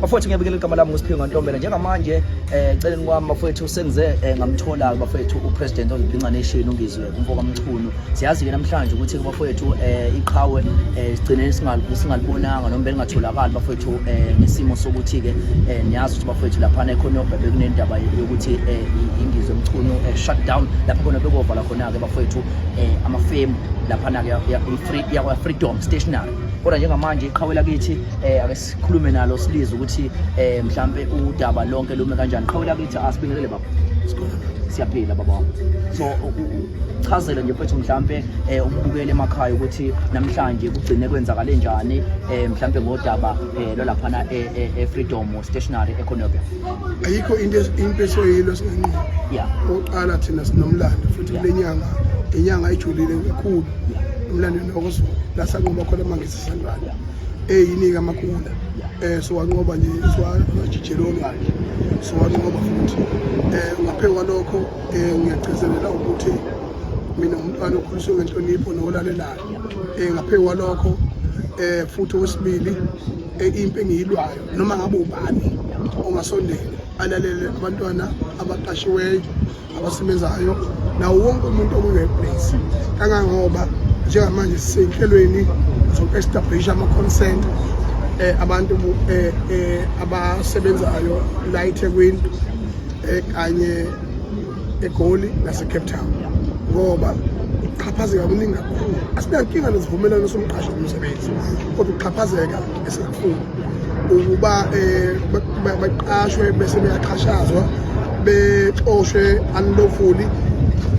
bafowethu ngiyabikela igama lami ngusiphiwe ngantombela njengamanje um celeni kwami bafowethu sengize um eh, ngamthola-ke bafowethu upresident of the nation ungizwe umfo kamchunu siyazi-ke namhlanje ukuthi bafowethu um eh, iqhawe um sigcine singalibonanga noma belingatholakali bafowethu um nesimo sokuthi-ke um niyazi ukuthi bafowethu laphana ekhona yobhebe kunendaba yokuthi um ingizwe mchunu um shut down lapho khona bekovala khona-ke bafowethu um amafemu laphana-ke iyakwa-freedom stationary kodwa njengamanje iqhawe lakithi um sikhulume nalo silizwe ukuthi eh mhlambe udaba lonke lume kanjani qhawela kithi asibingelele baba siyaphila baba wami so chazela nje mfethu mhlambe eh umbukele emakhaya ukuthi namhlanje kugcine kwenzakale njani eh mhlambe ngodaba eh lolaphana e, e, e Freedom Stationery eConobia ayikho into into esoyilo sinqobo yeah oqala thina sinomlando futhi kulenyanga inyanga ijulile kakhulu umlando nokuzulu lasanqoba khona mangisi sandala eyinika amakula eh siwanqoba nje siwajijeloni kanje siwanqoba futhi eh ngaphezu kwalokho eh ngiyagcizelela ukuthi mina umntwana okhuliswe ngenhlonipho nolalelayo eh ngaphezu kwalokho eh futhi wesibili eh, impi engiyilwayo noma ngabe ubani ongasondela alalele abantwana abaqashiweyo abasebenzayo nawo wonke umuntu okune-place kangangoba njengamanje sisenhlelweni zoku-establisha ama-consent eh, abantu eh, eh, abasebenzayo la ethekwini eh, kanye egoli nasecape town ngoba ukuxhaphazeka kuningi kakhulu asinankinga nezivumelwano somqashi nomsebenzi kodwa ukuxhaphazeka ukuba um eh, baqashwe bese beyaxhashazwa bexoshwe unlawfully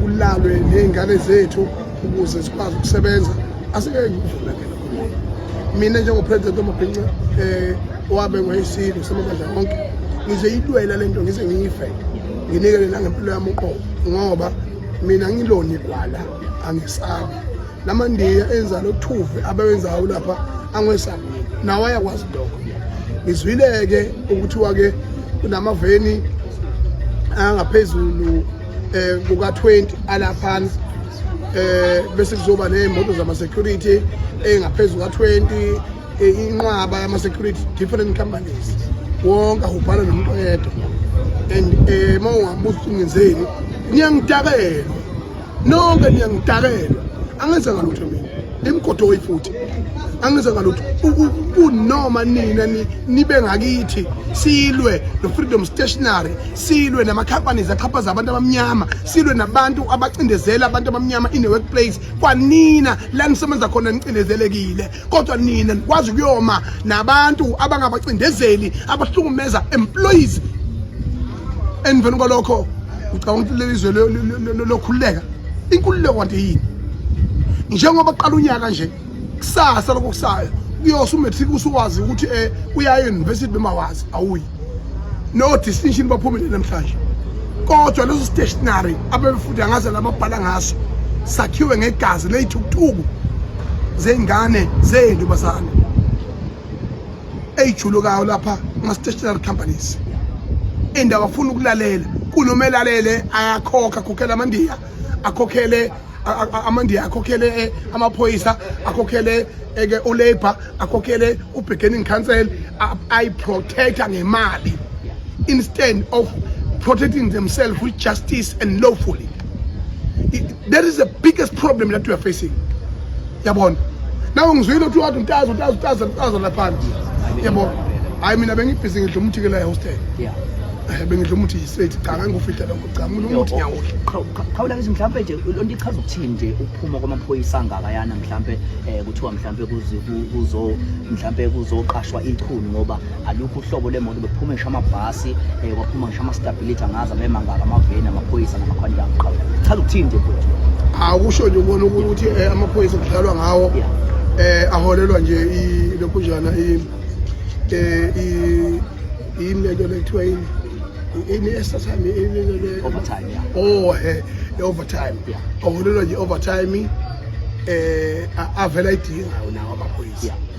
kulalwe ney'ngane zethu ukuze zikwazi ukusebenza asike ngivula ke lokho mina njengopresident omabhinca um eh, owabe ngoyisilo samabandla konke ngize yilwela le nto ngize ngiyife nginikele nangempilo yami uqobo ngoba mina ngilona igwala angisabi lamandiya enza lothuve abewenzayo lapha angesabi nawo ayakwazi lokho ngizwile-ke ukuthiwa-ke kunamaveni angaphezulu um eh, kuka-20 alaphana um eh, bese kuzoba ney'moto zama-security engaphezulu ka-20 eh, inqwaba yama-security different companies wonke ahubhala nomuntu oyedwa and um uma ungabuza ukuthi ngenzeni ngiyangidakelwa nonke niyangidakelwa angenza ngalutho mina nimgodoyi futhi angenza ngalutho kunoma nina nibe ngakithi silwe no-freedom stationary silwe nama-companies axhaphaza abantu abamnyama silwe nabantu abacindezela abantu abamnyama in the workplace kwanina la nisebenza khona nicindezelekile kodwa nina nikwazi ukuyoma nabantu abangabacindezeli abahlukumeza employees emveni kwalokho ngicabanga ukuthi leli zwe lokhululeka inkululeko kwanti yini njengoba kuqala unyaka nje kusasa lokho kusayo kuyosa umatric usuwazi ukuthi um eh, uyayo university bemawazi awuyi no distinction baphumile namhlanje kodwa leso stationary abebefundi angaze lababhala ngaso sakhiwe ngegazi leyithukuthuku zey'ngane zey'ntombazane eyijulukayo lapha ama-stationary companies and akafuni ukulalela kunoma elalele ayakhokha akhokhele amandiya akhokhele amandiya akhokhele eh, amaphoyisa akhokhele eke eh, ulabor akhokhele ubeginning council ayiprotecta ngemali instead of protecting themselves with justice and lawfully that is the biggest problem that we are facing yabona nawe ngizwile ukuthi wathi untazi untazi untazi untazi laphana yabona hayi mina bengibhizi ngidla umuthi ke la hostel yeah eh, bengidla umuthi straight cha ngangufihla lokho cha mina umuthi ngiyawudla khawula ngithi mhlawumbe nje lonto ichaza ukuthini nje ukuphuma kwamaphoyisa angakayana mhlawumbe um kuthiwa mhlawumbe kuzo mhlawumbe kuzoqashwa ichunu ngoba alukho uhlobo lwemoto bekuphuma ngisho amabhasi um kwaphuma ngisho ama-stability angazi abemangaka amaveni amaphoyisa namakhwanti angiqhawe chaza ukuthini nje futhi awusho nje ubona ukuthi eh, amaphoyisa kudlalwa ngawo um aholelwa nje lokhunjana eh, yini lento lekuthiwa yini ini extra time overtime yeah oh eh overtime yeah awulelo nje overtime eh avela idinga nawo amaphoyisa yeah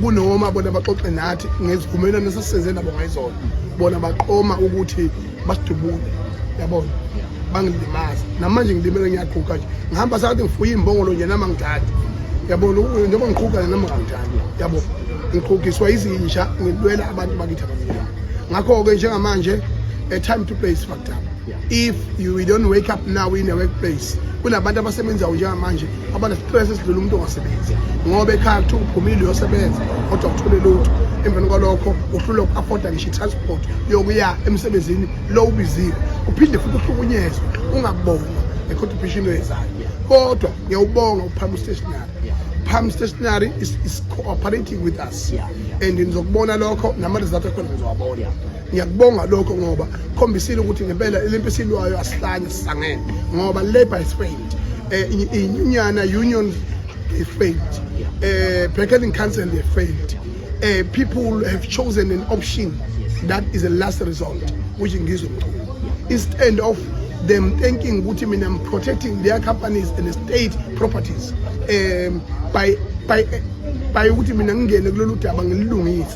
kunoma bona baxoxe nathi ngezivumelwano esesisenze nabo ngayizona bona baqoma ukuthi basidubule yabona bangilimaza namanje ngilimele ngiyaguga nje ngihamba sakathi ngifuye imbongolo nje nama ngithathe yabona njengoba ngiqhuga nama ngangithathe yabo ngiqhugiswa izinja ngilwela abantu bakithi abamnyama ngakho-ke njengamanje a time to play is fucked up if you don't wake up now in a workplace kunabantu abasebenzayo njengamanje abanesitress esidlula umuntu ongasebenzi ngoba ekhaya kuthiwa uphumile uyosebenza kodwa kuthole lutho emveni kwalokho uhlulwa uku-afoda ngisho i-transport yokuya emsebenzini lo ubiziwe uphinde futhi uhlukunyezwe ungabonwa nge-contribution oyenzayo kodwa ngiyawubonga uphama ustationary Palm Stationery is, is cooperating with us yeah, yeah. and ngizokubona lokho nama-result akhona ngizowabona yeah. ngiyakubonga lokho ngoba khombisile ukuthi ngempela lempi esilwayo asihlanye sisangene ngoba labor is failed eh inyunyana union they failed eh bargaining council they failed eh people have chosen an option that is the last result which ngizwe mchunu instead of them thinking ukuthi mina I'm protecting their companies and state properties um by by by ukuthi mina ngingene kulolu daba ngililungise